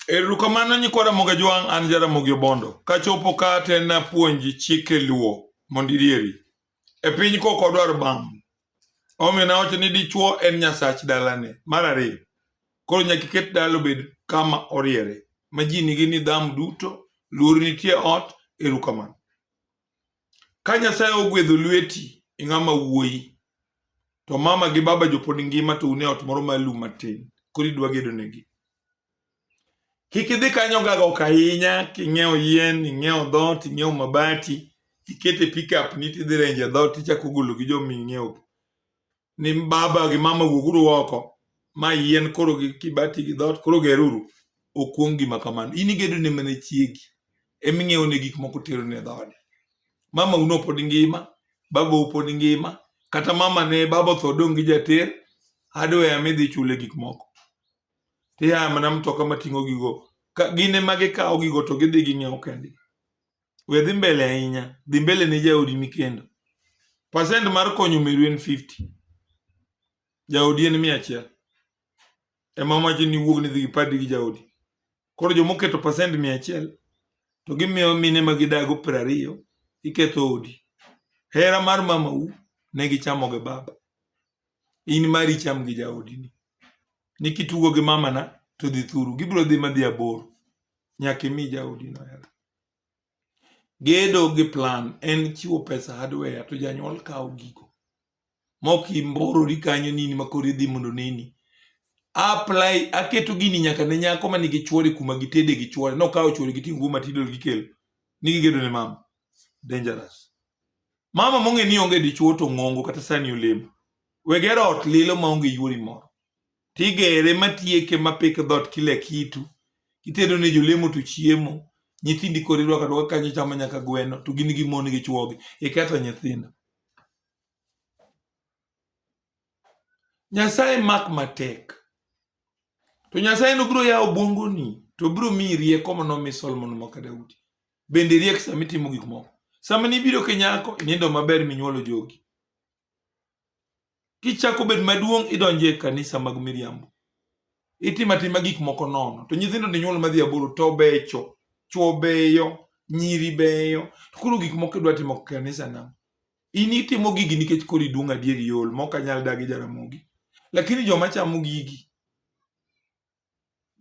Erukamano nyikwa Ramogi Jwang', an Jaramogi Obondo. Kachopo ka te napuonji chike luo mondo irieri. E piny kok odwar bam. Omiyo nawacho ni dichuo en nyasach dalane. Mar ariyo, koro nyaka iket dala obed kama oriere ma ji nigi nidhamu duto, luor nitie ot, erukamano. Ka Nyasaye ogwedho lweti ing'ama wuoyi to mama gi baba jopod ngima to une ot moro malum matin koro idwa gedonegi kik idhi kanyo gaga ok ahinya king'iewo yien ing'iewo dhot ing'iewo mabati ikete pickup ni tidhi renje dhot ichako golo gi jomi ing'iewo ni baba gi mama wuoguru oko ma yien koro gi kibati gi dhoot koro geruru okuong gima kamano in igedo ne mana chiegi ema ing'iewo ne gik moko tero ne dhoode mama uno pod ngima baba pod ngima kata mama ne baba otho dong' gi jater hardware ema idhi chule gik moko tiya mana mtoka mating'o gigo gine ma gikawo gigo to gidhi ging'iewo kendgi we dhi mbele ahinya dhi mbele ne jaodi ni kendo pasent mar konyo meru en 50 jaodi en mia achiel ema wacho ni wuog ni dhi gipadi gi jaodi koro joma oketo pasent mia achiel to gimiyo mine ma gidago piero ariyo iketho odi hera mar mamau ne gichamo gi baba in mari cham gi jaodini ni kitugo gi mamana to dhi thuru gibiro dhi madhi aboro nyaka imi jaodino hera Gedo gi plan en chiwo pesa hardware to janyuol kawo gigo. Mok imborori kanyo nini ma koro idhi mondo nini. Apply aketo gini nyaka ne nyako ma nigi chuore kuma gitede gi chuore. Nokawo chuore gi tingu matidol gi kelo. Ni gigedo ne mama. Dangerous. Mama mong'e ni onge dichuo to ng'ongo kata sani olemo. Wegero ot lilo ma onge yuori moro. tigere matieke mapik dhoot kila kitu itedo ne jolemo to chiemo nyithindi koro irwako arwaka kanyo ichamo nyaka gweno to gin gi mon gi chwogi iketho nyithindo nyasaye mak matek to nyasaye no biro yawo obwongoni to biro miyi rieko mano mi solomon maka daudi bende riek sama itimo gik moko sama nibiro kinyako nindo maber minyuolo jogi kichako bed maduong' idonje e kanisa mag miriambo itimo atima gik moko nono to nyithindo ni nyuol madhi aboro to becho chwo beyo nyiri beyo to koro gik moko idwa timo kanisa na in itimo gigi nikech koro iduong' adier iol mok anyal dagi jaramogi lakini joma chamo gigi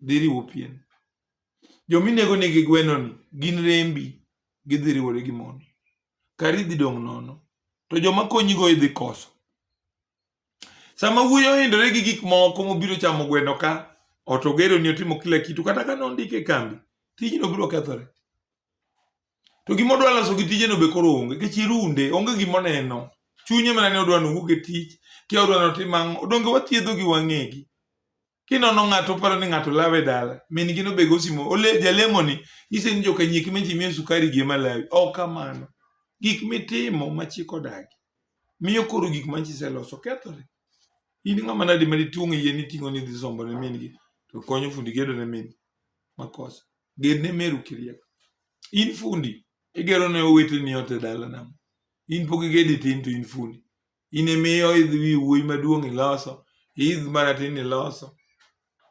dhi riwo pien. Joma inego nigi gwenoni gin rembi gidhi riwore gi mondi. Kari dhi dong' nono. To joma konyigo idhi koso. Sama wuoyi ohindore gi gik moko mobiro chamo gweno ka, ot ogero ni otimo kila kitu, kata ka nondike e kambi, tijno biro kethore. To gima odwa loso gi tijeno be koro onge, nikech irunde, onge gima oneno. Chunye mana ni odwa ni owuog e tich, kia odwa ni otim ang'o. Donge wathiedho gi wang'egi? kinono ng'ato oparo ni ng'ato lawe dala min gino be gosimo ole jalemo ni nyise ni joka nyik meji miyo sukari gi malawi ok kamano gik mitimo ma chik odagi miyo koro gik ma chise loso kethore in ng'ama nadi ma dituong' yie ni ting'o ni dhi sombo ne min gi to konyo fundi gedo ne min makosa ged ne meru kiriek in fundi igero ne owete ni ote dala nam in pok igedi tin to in fundi In imi oidh wi wuoyi maduong' iloso, iidh maratin iloso.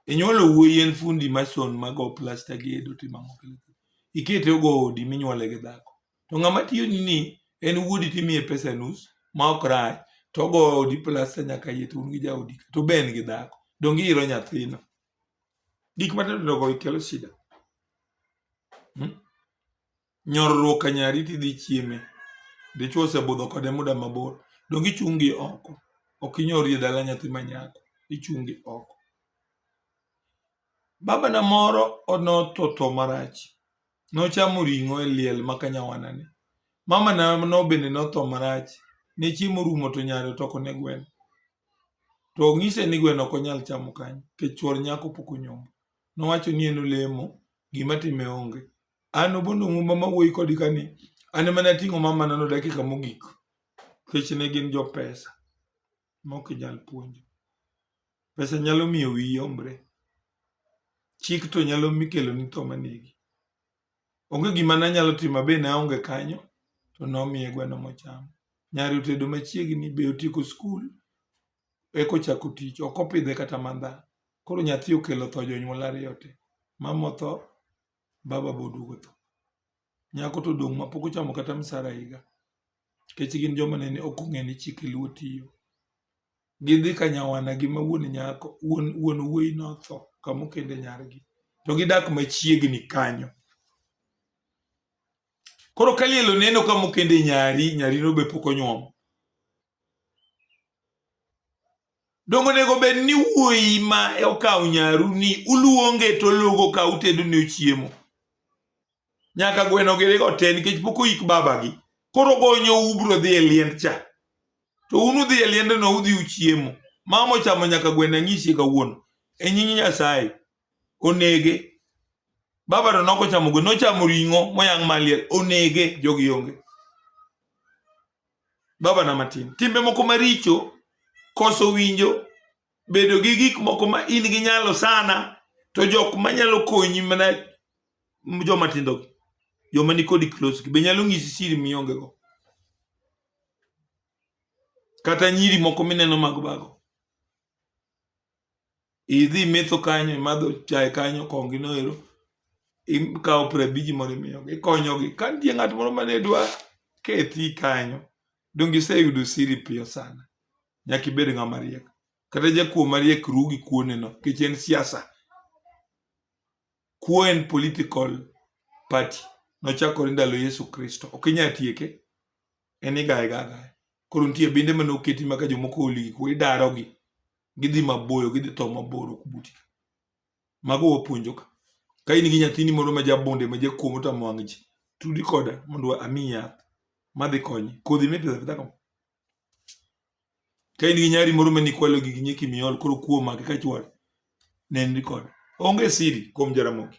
Inyuolo wuoyi en fundi mason mago plasta gedo timo ang'o kile kile. Ikete ogo odi minyuole gi dhako. To ng'ama tiyoni ni en wuodi timiye pesa nus ma ok rach to ogo odi plasta nyaka iye to un gi jaodi ka to be en gi dhako. Donge ihero nyathino? Gik matindo tindo go kelo shida. Hmm? Nyorruok ka nyari tidhi chieme. Dichwo osebudho kode muda mabor. Donge ichung' gi oko? Ok inyori e dala nyathi ma nyako. Ichung' gi oko. Babana moro notho tho marach. Nochamo ring'o e liel ma ka nyawanani. Mamana no bende notho marach. Ne chiemo orumo to nyare otoko ne gweno. To onyise ni gweno ok onyal chamo kanyo nikech chuor nyako pok onyombo. Nowacho ni en olemo, gima time onge. an obondo ng'umba ma wuoyi kodi ka ni an ema nating'o mamana no dakika mogik kech ne gin jo pesa mok inyal puonjo pesa nyalo miyo wi yombre chik to nyalo mikelo ni tho manegi onge gima nanyalo timo be naonge kanyo to nomiye gweno mochamo nyari otedo machiegni be otieko skul eka ochako tich ok opidhe kata mandha koro nyathi okelo tho jonyuol ariyo te mama otho baba boduogo tho nyako to odong' ma pok ochamo kata msara higa kech gin joma nene ok ong'e ni chike luo tiyo gidhi ka nyawana gi ma wuon nyako wuon wuon wuoyi notho kamokende nyargi to gidak machiegni kanyo koro ka liel oneno kamokende nyari nyarino be pok onyuom Dongo nego bed ni wuoyi ma okawo nyaru ni uluonge to logo ka utedo ne chiemo. Nyaka gweno gere go te nikech pok oyik babagi. Koro gonyo ubro dhi e liend cha. To un udhi e liend no udhi uchiemo. Mama ochamo nyaka gweno anyisi kawuono. E nying Nyasaye. Onege. Baba to noko chamo gweno. Nochamo ring'o moyang' maliel. Onege. Jogi onge. Baba na matin. Timbe moko maricho, koso winjo, bedo gi gik moko ma in gi nyalo sana, to jok manyalo konyi mana joma tindo gi. Joma ni kodi close gi be nyalo ng'isi siri mionge go. Kata nyiri moko mineno mag bago. idhi metho kanyo imadho chae kanyo kongi noero ikawo piero abiji moro imiyogi ikonyogi ka nitie ng'at moro mane dwa kethi kanyo donge iseyudo siri piyo sana nyaka ibed ng'ama riek kata jakuo mariek ru gi kuoneno nikech en siasa kuo en political party nochakore ndalo yesu kristo ok inyal tieke en igaye ga agaya koro nitie binde mane oketi ma ka jomoko oli gik moko idarogi gidhi maboyo gidhi tho mabor ok buti ka mago wapuonjo ka ka in gi nyathini moro ma jabunde ma jakuo motamo wang' ji tudi koda mondo amiyi yath madhi konye kodhi mipidho apidha kama Ka in gi nyari moro ma nikwalo gi nyeki miol koro kuo maki ka chwal nenri kod onge siri kuom Jaramogi.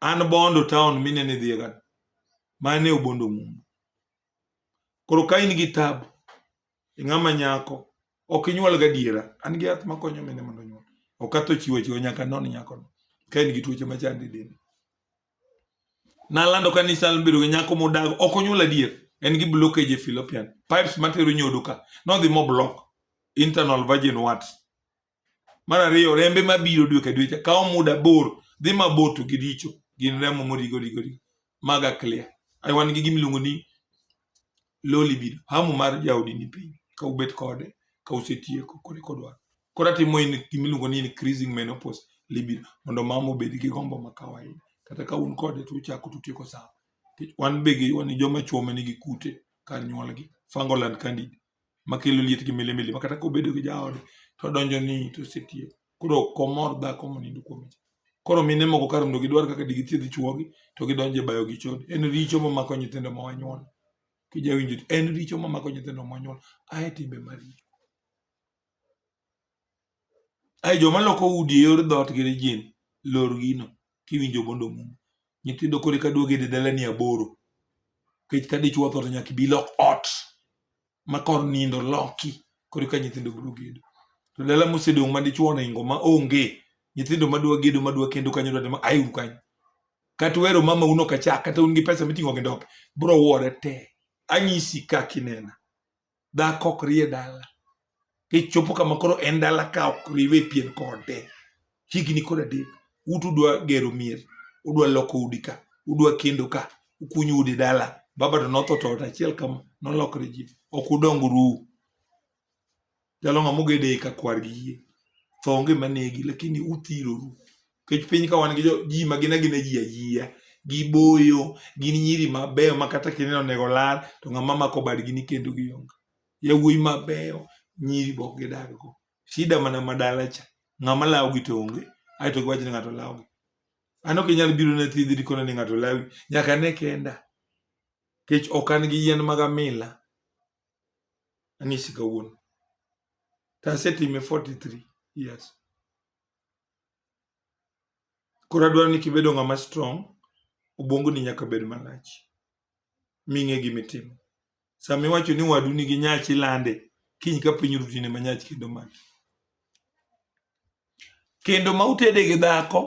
An Bondo town minene dhiye gan mane obondo mumbo. Koro ka in gi tabu ing'ama nyako ok inyuol gadiera an gi yath makonyo mine mondo onyuol ok atho chiwo chiwo nyaka non nyakono ka in gi tuoche machandi dende. Nalando ka nisa bedo gi nyako modago ok onyuol adier. En gi blockage e fallopian. Pipes matero nyodo ka. Nodhi mo block internal virgin warts. Mar ariyo rembe mabiro dwe ka dwe cha kawo muda bor dhi mabor to giricho gin remo morigo rigo rigo. Maga clear. Ai wan gi gimiluongo ni low libido. Hamu mar jaodi ni piny ka ubet kode ka usetieko kode kodwaro. koro atimo in gimiluongo ni increasing menopause libido mondo mama obed gi gombo ma kawaida kata ka un kode to uchako tutieko sawa Nikech wan be gi wan joma chwo ma nigi kute kar nyuolgi fungal and candid makelo liet gi milimili ma kata kobedo gi jaode to odonjo ni to osetiek koro ok omor dhako monindo kuome cha koro mine moko kar mondo gidwar kaka digithiedh chwogi to gidonjo e bayo gi chode en richo mamako nyithindo ma wanyuol kijawinjo en richo mamako nyithindo ma wanyuol ae timbe maricho Ai joma loko udi e yor dhoot gi rijin, lor gino kiwinjo mondo omum. Nyithindo koro eka duogo e dalani aboro. Nikech ka dichwo otho to nyaka ibi ilok ot ma kor nindo loki koro eka nyithindo biro gedo. To dala mosedong' ma dichwo oningo ma onge, nyithindo madwa gedo madwa kendo kanyo dwa ni ma auru kanyo. Kata uhero mamau nok achak kata un gi pesa miting'o gi ndope, biro wuore te. Anyisi kaka inena. dhako ok rie dala kichopo kama koro en dala ka ok riwe pien kode higni kod adek utu udwa gero mier udwa loko udi ka udwa kendo ka ukunyo udi dala baba to notho to ot achiel kama nolokre ji ok udong ruu jalo ng'ama ogede ka kwar gi yie tho onge manegi lakini uthiroru kech piny ka wan gi ji ma gin agina ji ayia giboyo gin nyiri mabeyo ma kata kineno onego lal to ng'ama mako badgi ni kendo gionge yawuoyi mabeyo nyiri bok gidag go shida mana madala cha ng'ama lawogi to onge ae to giwacho ni ng'ato lawogi an ok inyal biro na thiedhi dikona ni ng'ato lawi nyaka ne kenda kech ok an gi yien mag amila anyisi kawuono to asetime 43 years Koro adwaro ni kibedo ng'ama strong, obwongoni nyaka bed malach ming'e gima itimo. Sama iwacho ni wadu nigi nyach ilande, kiny ka piny ru tine ma nyach kendo maki. Kendo ma utede gi dhako,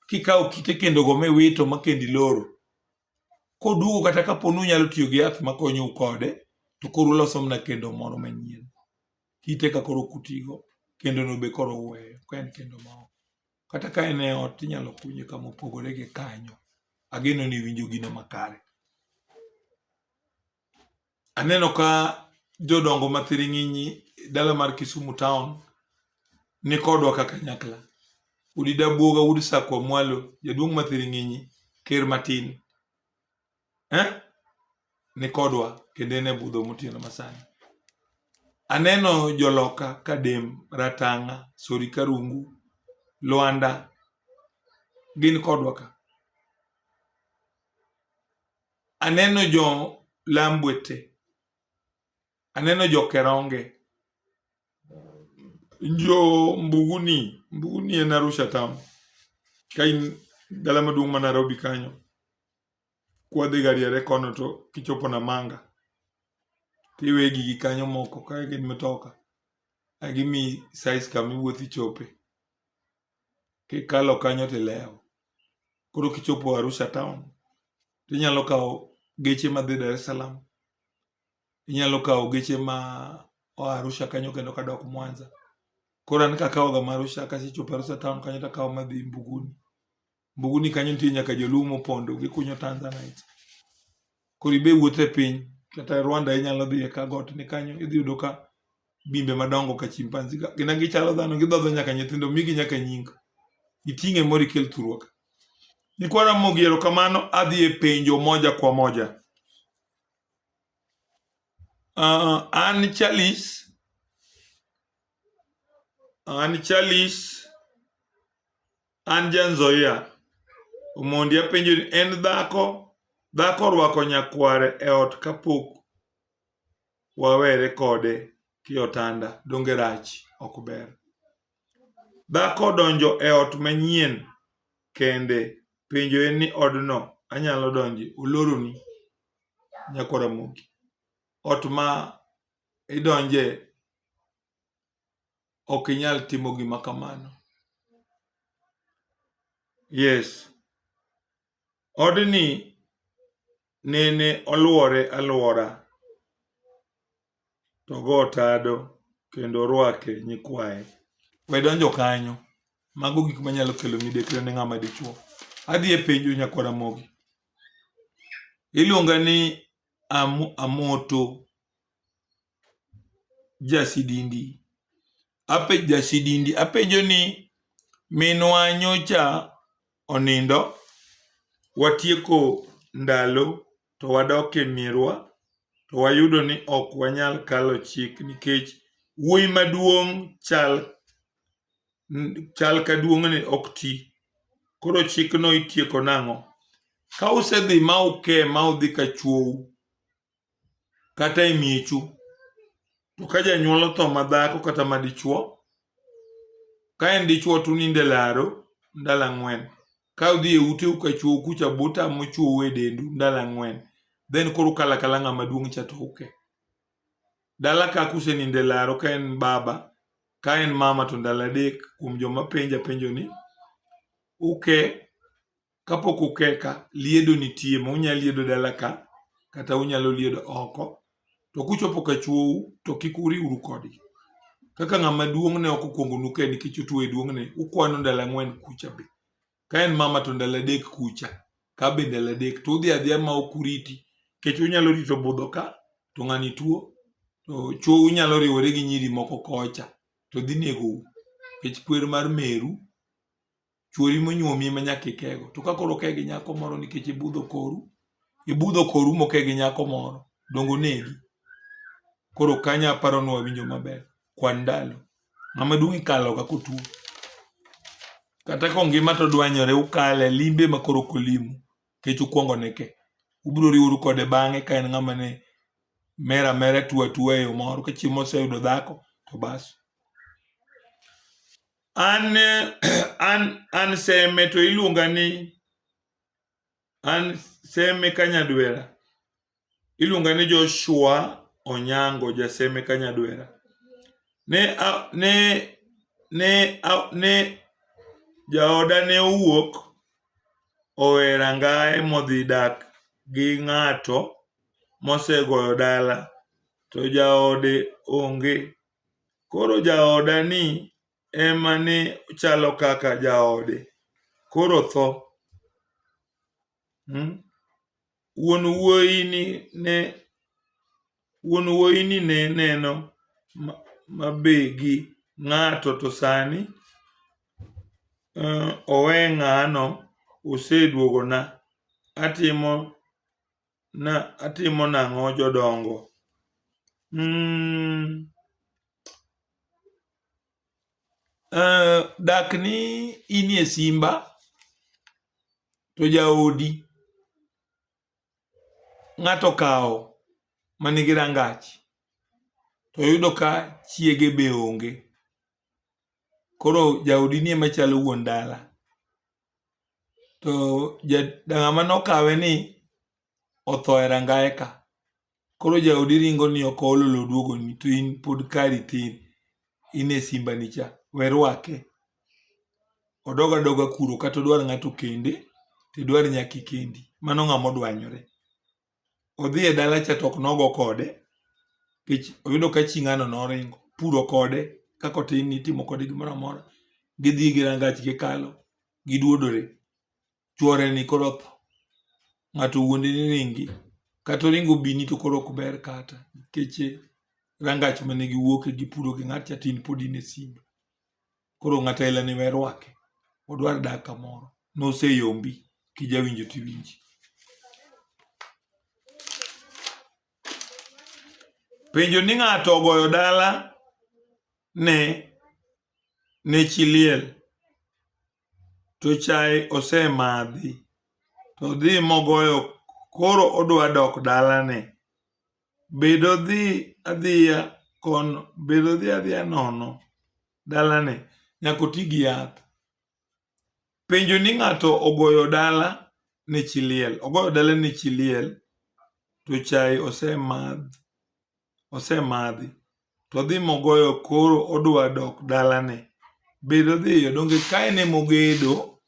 kikawo kite kendogo miwito ma kendo iloro, koduogo kata kapo ni unyalo tiyo gi yath makonyo u kode, to koro uloso mana kendo moro manyien. kite ka koro kutigo kendo no be koro uweyo ka en kendo ma oko. Kata ka en e ot inyalo kunye kama opogore gi kanyo. Ageno ni iwinjo gino makare. Aneno ka jodongo ma thiring'inyi e dala mar Kisumu town ni kodwa ka kanyakla. Udi Dabuoga, Udi Sakwa Mwalo, Jaduong' ma thiring'inyi, Ker Matin. eh? ni kodwa kendo en e budho motieno masani aneno joloka kadem ratanga sori karungu lwanda gin kodwa ka aneno jo lambwete aneno jo keronge jo mbuguni mbuguni en arusha town ka in dala maduong' ma nairobi kanyo kwadhi gariere kono to kichopo Namanga tiwe gigi kanyo moko ka gin mitoka a gimi size kama iwuothi chope kikalo kanyo tilewo koro kichopo Arusha town tinyalo kawo geche madhi Dar es Salaam inyalo kawo geche ma oa Arusha kanyo kendo kadok Mwanza koro an kakawoga ma Arusha kasechopo Arusha town kanyo takawo madhi Mbuguni Mbuguni kanyo nitie nyaka joluo mopondo gikunyo tanzanite. Koro ibe wuotho e piny kata Rwanda inyalo dhi ka got ni kanyo idhi yudo ka bimbe madongo ka chimpanzi ka gina gichalo dhano gidhodho nyaka nyithindo migi nyaka nying. Iting'e moro ikel thurwa ka. Nikwa Ramogi erokamano adhi e penjo moja kwa moja. Uh, an Charles an Charles An ja Nzoia, Omondi apenjo ni en dhako, dhako orwako nyakware e ot kapok wawere kode kiotanda, donge rach ok ber. Dhako donjo e ot manyien kende, penjo en ni odno anyalo donje, oloroni nyakwara moki. Ot ma idonje ok inyal timo gima kamano yes odni nene oluore aluora to go tado kendo orwake nyikwaye we donjo kanyo mago gik manyalo kelo midekre ne ng'ama dichuo adhi e penjo nyakwara mogi iluonga ni amoto jasidindi ape jasidindi apenjo ni minwa nyocha onindo watieko ndalo to wadok e mirwa to wayudo ni ok wanyal kalo chik nikech wuoyi maduong' chal chal ka duong'ne ok ti koro chikno itieko nang'o ka usedhi ma uke ma udhi ka chwou kata e miechu to ka janyuol otho madhako kata madichuo ka en dichuo to unindo e laro ndalo ang'wen ka udhi e uteu ka chuou kucha buta mochuou e dendu ndalo ang'wen then koro ukala kala ng'ama duong' cha to uke dala ka kusenindo e laro ka en baba ka en mama to ndalo adek kuom joma penja penjo ni uke kapok ukeka liedo nitie ma unyalo liedo dala ka kata unyalo liedo oko to kuchopo ka chwou to kik uriwru kodgi kaka ng'ama duong' ne ok okwongo nuke nikech otuo e duong'ne ukwano ndalo ang'wen kucha be ka en mama to ndalo adek kucha ka be ndalo adek to udhi adhiya ma ok uriti nikech unyalo rito budho ka to ng'ani tuo to chwou nyalo riwore gi nyiri moko kocha to dhi negou nikech kwer mar meru chuori monyuomi ma nyaka ikego to ka koro oke gi nyako moro nikech ibudho koru ibudho koru moke gi nyako moro dongo negi koro kanya aparo ni wawinjo maber kwan ndalo ng'ama duong' ikalo ka kotuo kata ka ngima to dwanyore ukale limbe ma koro kolimu kech ukwongo neke ubiro riworu kode bang'e ka en ng'ama ne mera mera tuwa tuwa e yo moro ka chiemo oseyudo dhako to bas An an an seme to iluonga ni an seme kanyadwera. Iluonga ni Joshua Onyango jaseme kanyadwera. Ne a, ne ne a, ne jaoda ne owuok owe rangaye modhi dak gi ng'ato mosegoyo dala to jaode onge Koro jaoda ni ema ne chalo kaka jaode koro tho. Hmm? Wuon wuoyi ni ne wuon wuoyi ni ne neno mabe gi ng'ato to sani uh, owe ng'ano oseduogona atimo na atimo nang'o jodongo mm. uh, dak ni inie simba to jaodi ng'ato kawo manigi rangach to yudo ka chiege be onge koro jaodi nie machalo wuon dala to ng'ama nokawe ni otho e rangaye ka. Koro jaodi ringo ni ok ool oloo oduogoni to in pod kari tin in e simba ni cha. We rwake. Odog adoga kuro kata odwar ng'ato okende to idwar nyaka ikendi. Mano ng'ama odwanyore. odhi e dala cha to ok nogo kode nikech oyudo ka chi ng'ano noringo puro kode kaka otin ni itimo kode gimoro amora gidhi gi rangach gikalo giduodore chwore ni koro otho ng'ato wuonde ni ringi kata oringo bini to koro ok ber kata nikech rangach mane giwuoke gipuro gi ng'at cha tin pod in e simba Koro ng'ato aila ni we rwake. Odwar dak kamoro. Noseyombi. Kijawinjo tiwinji. Penjo ni ng'ato ogoyo dala ne ne chi liel to chae osemadhi to dhi mogoyo koro odwa dok dalane bedo dhi adhiya kon bedo dhi adhiya nono dalane nyaka oti gi yath penjo ni ng'ato ogoyo dala ne chi liel ogoyo dala ne chi liel to chai osemadh osemadhi to odhi mogoyo koro odwa dok dalane. Bedo dhiyo donge ka en emogedo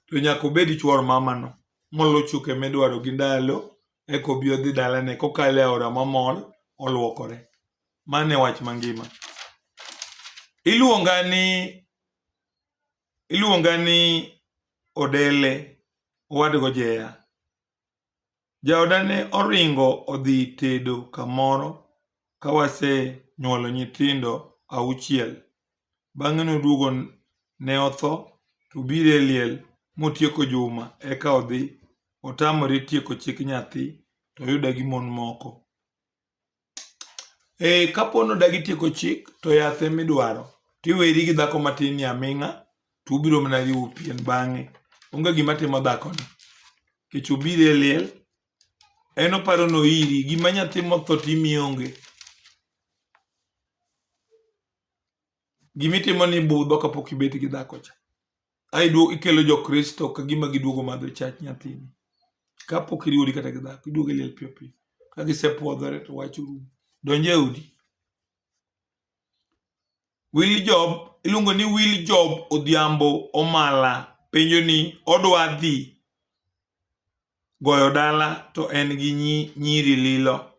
to nyaka obed chuor mamano moluw chuke midwaro gi ndalo eka obi odhi dalane kokalo e aora mamol olwokore. Mano e wach mangima. Iluonga ni iluonga ni Odele owadgo Jeya. Jaoda ne oringo odhi tedo kamoro ka wasenyuolo nyithindo auchiel. Bang'e noduogo ne otho to obiro e liel motieko juma eka odhi. Otamore tieko chik nyathi to oyude gi mon moko. ee kapo ni odagi tieko chik to yath ema idwaro to iweri gi dhako matin ni aming'a to ubiro mana riwo pien bang'e onge gima timo dhakoni nikech obiro e liel en oparo ni oiri gima nyathi motho to imiyo onge gimitimo ni budho kapok ibet gi dhako cha aiduo ikelo jokristo ka gima giduogo madho chach nyathini kapok iriwori kata gi dhako iduogo iliel piyo piyo ka gisepwodhore to wach orumo donje udi wil job iluongo ni wil job odhiambo omala penjo ni odwa dhi goyo dala to en gi nyiri lilo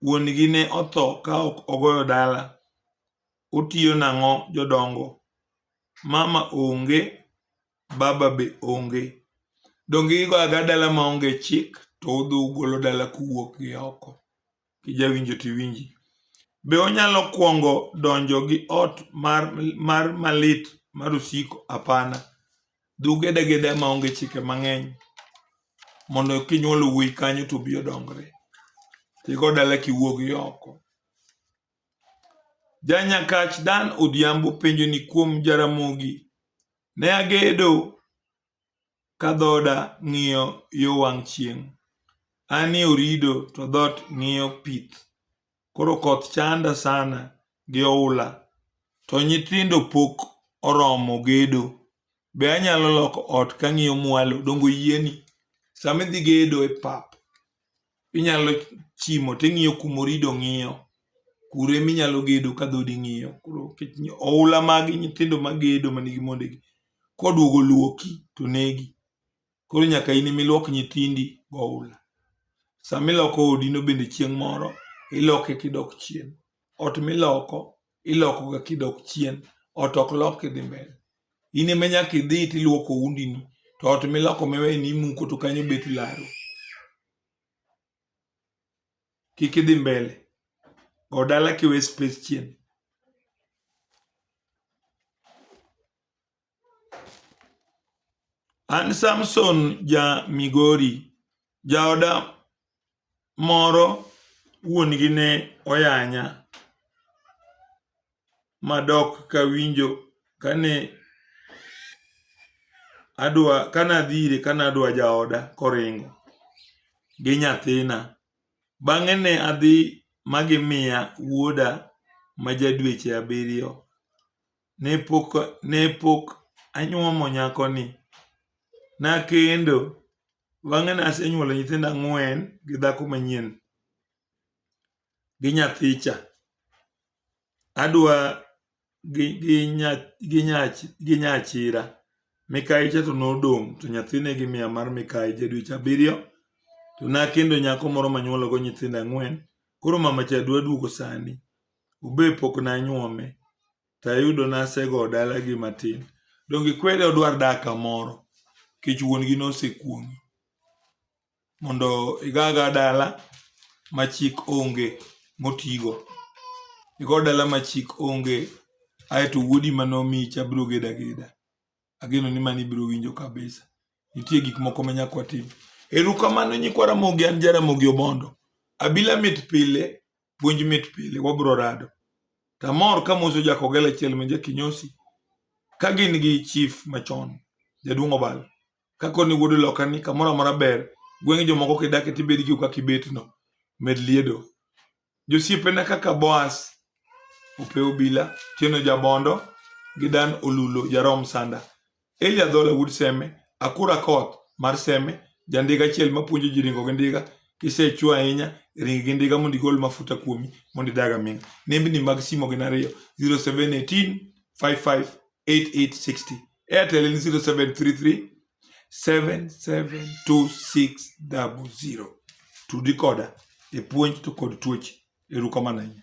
wuon gi ne otho ka ok ogoyo dala, otiyo nang'o jodongo, mama onge, baba be onge. Donge igo aga dala ma onge chik to udhi ugolo dala kuwuok gi oko. Kijawinjo to iwinji. Be onyalo kwongo donjo gi ot mar, mar malit mar osiko? Hapana. Dhug edageda ma onge chike mang'eny mondo kinyuolo wuoyi kanyo to obi odongre. Tigo dala kiwuog oko. Janyakach Dan Odhiambo penjo ni kuom Jaramogi ne agedo ka dhoda ng'iyo yo wang' chieng'. An ni Orido to dhoot ng'iyo pith. Koro koth chanda sana gi oula to nyithindo pok oromo gedo. Be anyalo loko ot kang'iyo mwalo dongo yieni? Sama idhi gedo e pap, inyalo chimo ting'iyo kumorido ng'iyo kure minyalo gedo ka dhodi ng'iyo. Koro oula magi nyithindo magedo manigi mondegi koduogo luoki to negi. Koro nyaka in imiluok nyithindi goula. Sama iloko odino bende chieng' moro iloke kidok chien. Ot miloko ilokoga kidok chien. Ot ok lok kidhi mbele. In ema nyaka idhi tiluoko undino to ot miloko miwe ni imuko to kanyo bet laro. Kik idhi mbele. Go dala kiwe space chien. An Samson ja Migori, jaoda moro wuon-gi ne oyanya madok kawinjo kane adwa kane adhi ire kane adwa jaoda koringo gi nyathina. Bang'e ne adhi ma gimiya wuoda ma ja dweche abiriyo. ne pok ne pok anyuomo nyakoni nakendo bang'e nasenyuolo nyithindo ang'wen gi dhako manyien gi nyathicha adwa gi gi nya gi nya gi nya achira mikayi cha to nodong' to nyathi ne gimiya mar mikayi ja dweche abiriyo to nakendo nyako moro manyuolo go nyithindo ang'wen koro mama cha dwa duogo sani Ube pok nanyuome to ayudo nasego dalagi matin. Donge ikwede odwar dak kamoro nikech wuon-gi nosekuong'i mondo igaga dala ma chik onge motigo. Igo dala ma chik onge aeto wuodi ma nomiyicha biro gedo ageda. Ageno ni mano ibiro winjo kabisa. Nitie gik moko ma nyaka watim. Erokamano nyikwa Ramogi an ja Ramogi Obondo. Abila mit pile puonj mit pile wabro rado tamor ka moso jakogela achiel ma jakinyosi ka gin gi chief machon jaduong' obal kako ni wuod loka ni kamoro amora ber gweng' jomoko kidake tibed gi kaka ibetno med liedo josiepena kaka boas ope obila tieno jabondo gi dan olulo jarom sanda Eli Adhola wuod Seme, Akura Akoth mar Seme, jandiga achiel mapuonjo ji ringo gi ndiga, kisechwo ahinya ring gi ndiga mondo igol mafuta kuomi mondo idag aming'a. Nembni mag simo gin ariyo 0718 558860 Airtel en 0733 772600. Tudi koda e puonj to kod tuoche. Erukamano ahinya.